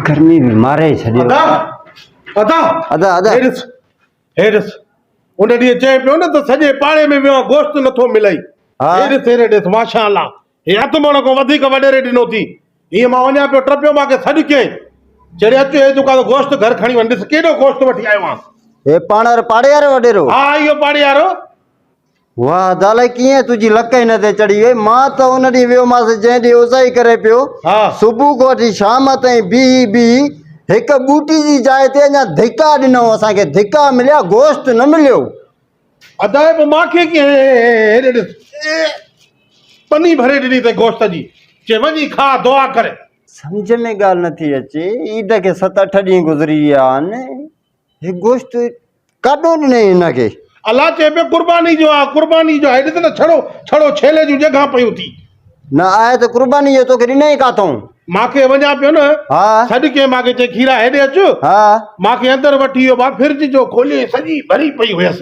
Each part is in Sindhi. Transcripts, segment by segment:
گرمي ۾ ماري ڇڏيو ادا ادا ادا ادا هيرس هيرس ان ڏينهن چئي پيو نه ته سڄي پاڙي ۾ ويو آهي گوشت نٿو ملئي ها هيرس هيري ڏس ماشا الله هي اڌ مڻ کان وڌيڪ وڏيري ڏنو ٿي هيئن مان وڃان پيو ٽپيو ماکي سڏ ڪيائين چڙي اچ هي دڪان گوشت گهر کڻي وڃ ڏس ڪيڏو گوشت وٺي آيو آهيان هي پاڻ وارو پاڙي وارو وڏيرو ها اهو پاڙي وارو واهه ادالئي ڪيئن تنهنجي لڪ هن تي چڙهي وئي، مان ته ان ڏينهن ويومانس جنهن ڏينهن اوزائي ڪري پيو، صبح کان وٺي شام تائين بيهي بيهي هڪ ٻوٽي جي جاء تي اڃا ڌڪا ڏنائون، اسان کي ڌڪا مليا، گوشت نه مليو. ادالئي پوء مان کي ڪيئن هيڏي ڏس پني ڀري ڏني اٿئي گوشت جي، چي وڃي کاء، دعا ڪر. سمجهه ۾ ڳالهه نٿي اچي، عيد کي ست اٺ ڏينهن گذري ويا آهن. هي گوشت ڪاڏو ڏنئي هن کي؟ الله چئي پيو قرباني جو آ قرباني جو آ هي ڏس ته ڇڙو ڇڙو ڇيلي جون ڄنگهان پيون ٿي. نه آهي ته قرباني جو توکي ڏنئي ڪاٿئون؟ مان کي وڃان پيو نه؟ ها. سڏ ڪيئن مان کي چئي کيرا هيڏي اچ. ها. مان کي اندر وٺي ويو مان فرج جو کولي سڄي ڀري پئي هيس.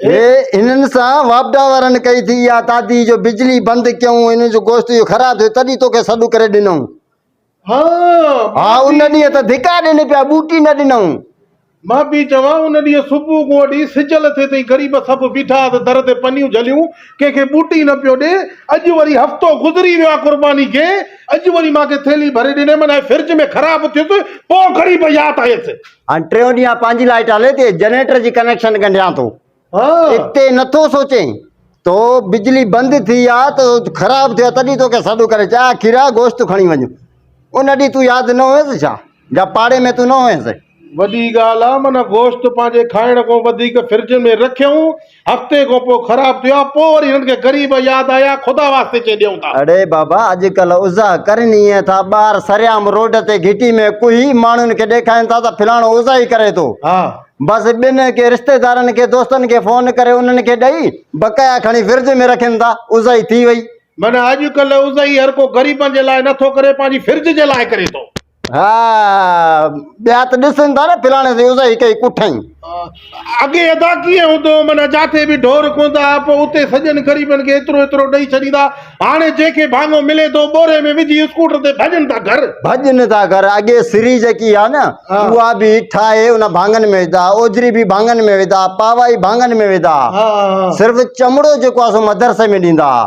هنن سان واپڊا وارن ڪئي ٿي اها تادي جو بجلي بند ڪيئون هنن جو گوشت جو خراب ٿيو تڏهن توکي سڏ ڪري ڏنئون ها ها ان ڏينهن ته ڌڪا ڏني پيا ٻوٽي نه ڏنئون مان پي چوان ان ڏينهن صبح گوڙي سج لٿي تائين غريب سڀ بيٺا هئا در تي پنيون جهليون ڪنهن کي ٻوٽي نه پيو ڏي اڄ وري هفتو گذري ويو آهي قرباني کي اڄ وري مان کي ٿيلهي ڀري ڏني من ۽ فرج ۾ خراب ٿيس پوء غريب ياد آيس هاڻ ٽيون ڏينهن پنهنجي لائيٽ هلي ٿي جنريٽر جي ڪنيڪشن ڳنڍيان ٿو اتي نٿو سوچين تو بجلي بند ٿي آ تو خراب ٿيو تڏي تو کي سڏ ڪري چا کيرا گوشت کڻي وڃ ان ڏي تو ياد نه هوس ڇا جا پاڙي ۾ تو نه هوس وڏي ڳالهه آ من گوشت پنهنجي کائڻ کان وڌيڪ فرج ۾ رکيون هفتي کان پوء خراب ٿيا، پوء وري هنن کي غريب ياد آيا، خدا واسطي چئي ڏيون ٿا. اڙي بابا اڄڪلهه اوزا ڪرني ائين ٿا ٻار سرعام روڊ تي گهٽي ۾ ڪوهي ماڻهن کي ڏيکارين ٿا ته فلاڻو اوزا ئي ڪري ٿو ها. بس ٻن ڪي رشتيدارن کي دوستن کي فون ڪري انهن کي ڏئي بقايا کڻي فرج ۾ رکين ٿا اوزائي ٿي وئي. معنيٰ اڄڪلهه اوزائي هر ڪو غريبن جي لاء نه ٿو ڪري پنهنجي فرج جي لاء ڪري ٿو. ها ٻيا ته ڏسن ٿا نه فلاڻي سين اذائي ڪئي ڪٺئين. اڳي ادا ڪيئن هوندو هو معنيٰ جاٿي به ڍور ڪوندا ها پوء اتي سڄن غريبن کي ايترو ايترو ڏئي ڇڏيندا هاڻي جنهن کي ڀاڱو ملي ٿو ٻوري ۾ وجهي اسڪوٽر تي ڀڄن ٿا گهر. ڀڄن ٿا گهر اڳي سري جيڪي ها نه اها به ٺاهي ان ڀاڱن ۾ وڌا ها اوجري به ڀاڱن ۾ وڌا ها پاوائي ڀاڱن ۾ وڌا ها صرف چمڙو جيڪو آهي سو مدرسي ۾ ڏيندا ها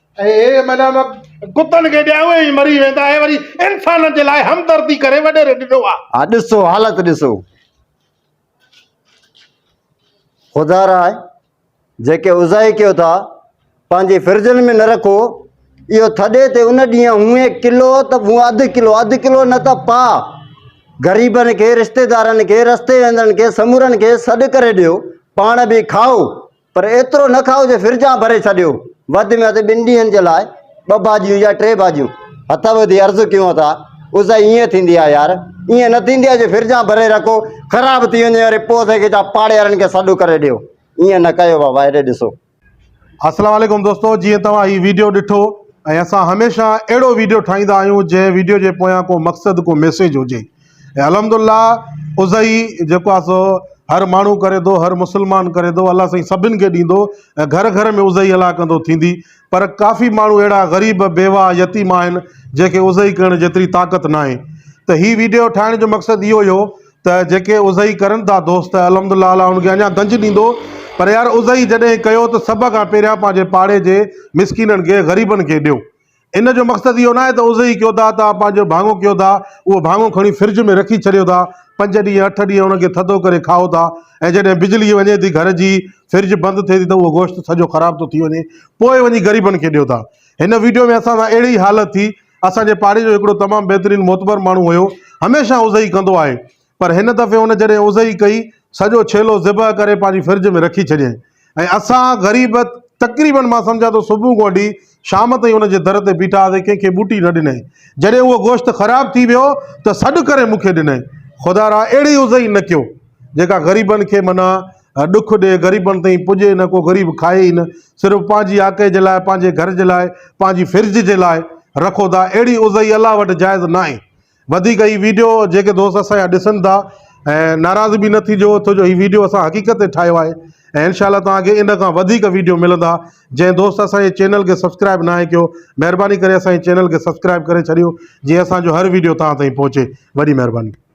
اهي معنيٰ ڪتن کي ڏيا اهي ئي مري ويندا اهي وري انسانن جي لاء همدردي ڪري وڏيري ڏنو آ. ها ڏسو حالت ڏسو خدا را جيڪي عزائي ڪيو ٿا پنهنجي فرجن ۾ نه رکو اهو ٿڏي تي ان ڏينهن هونئي ڪلو ته مون اڌ ڪلو اڌ ڪلو نه ته پا غريبن کي رشتيدارن کي رستي ويندڙن کي سمورن کي سڏ ڪري ڏيو پاڻ به کائو پر ايترو نه کائو جو فرجان ڀري ڇڏيو، وڌ ۾ وڌ ٻن ڏينهن جي لاء ٻه ڀاڄيون يا ٽي ڀاڄيون. هٿ ٻڌي عرض ڪيون ته عزا ايئن ٿيندي آهي يار، ايئن نه ٿيندي آهي جو فرجان ڀري رکو، خراب ٿي وڃي وري پوء اسان کي چئو پاڙيهارن کي سڏ ڪري ڏيو، ايئن نه ڪيو بابا هيڏي ڏسو. السلام عليڪم دوستو جيئن توهان هي ويڊيو ڏٺو ۽ اسان هميشه اهڙو ويڊيو ٺاهيندا آهيون جنهن ويڊيو جي پويان ڪو مقصد ڪو ميسيج هجي. ۽ الحمد الله اضحي جيڪو آ سو هر ماڻهو ڪري ٿو هر مسلمان ڪري ٿو الله سائين سڀن کي ڏيندو ۽ گهر گهر ۾ اضحي الا ڪندو ٿيندي پر ڪافي ماڻهو اهڙا غريب بيواهه يتيم آهن جنهنکي اضحي ڪرڻ جيتري طاقت ناهي ته هي ويڊيو ٺاهڻ جو مقصد اهو ئي هو ته جيڪي اضحي ڪرن ٿا دوست الحمد الله الا ان کي اڃا گنج ڏيندو پر يار اضحي جڏهن ڪيو ته سڀ کان پهريان پنهنجي پاڙي جي مسڪينن کي غريبن کي ڏيو ان جو مقصد اهو ناهي ته اوزهي ئي ڪيو ٿا، توهان پنهنجو ڀاڱو ڪيو ٿا، اهو ڀاڱو کڻي فرج ۾ رکي ڇڏيو ٿا، پنج ڏينهن اٺ ڏينهن ان کي ٿڌو ڪري کائو ٿا ۽ جڏهن بجلي وڃي ٿي گهر جي فرج بند ٿئي ٿي ته اهو گوشت سڄو خراب ٿو ٿي وڃي پوء وڃي غريبن کي ڏيو ٿا. هن وڊيو ۾ اسان سان اهڙي ئي حالت ٿي، اسان جي پاڙي جو هڪڙو تمام بهترين معتبر ماڻهو هيو، هميشه اوزهي ڪندو آهي، پر هن دفعي هن جڏهن اوزهئي ڪئي، سڄو ڇيلو ذبح ڪري پنهنجي فرج ۾ رکي ڇڏيائين ۽ اسان غريب تقريبن مان سمجهان ٿو صبح کان وٺي شام تائين هن جي در تي بيٺا هئاسين، ڪنهن کي ٻوٽي نه ڏنائين. جڏهن اهو گوشت خراب ٿي ويو ته سڏ ڪري مون کي ڏنائين. خدارا اهڙي اوزهئي نه ڪيو، جيڪا غريبن کي معنيٰ ڏک ڏئي، غريبن تائين پڄي نه، ڪو غريب کائي ئي نه، صرف پنهنجي آڪهه جي لاء، پنهنجي گهر جي لاء، پنهنجي فرج جي لاء رکو ٿا، اهڙي اوزهئي الله وٽ جائز ناهي. وڌيڪ هي ويڊيو جيڪي دوست اسان جا ڏسن ٿا ۽ ناراض به نه ٿيجو ٿو جو هي ويڊيو اسان حقيقت تي ٺاهيو آهي ۽ انشاء الله توهان کي ان کان وڌيڪ ويڊيو ملندا جنهن دوست اسان جي چينل کي سبسڪرائب ناهي ڪيو مهرباني ڪري اسان جي چينل کي سبسڪرائب ڪري ڇڏيو جيئن اسان جو هر ويڊيو توهان تائين پهچي وڏي مهرباني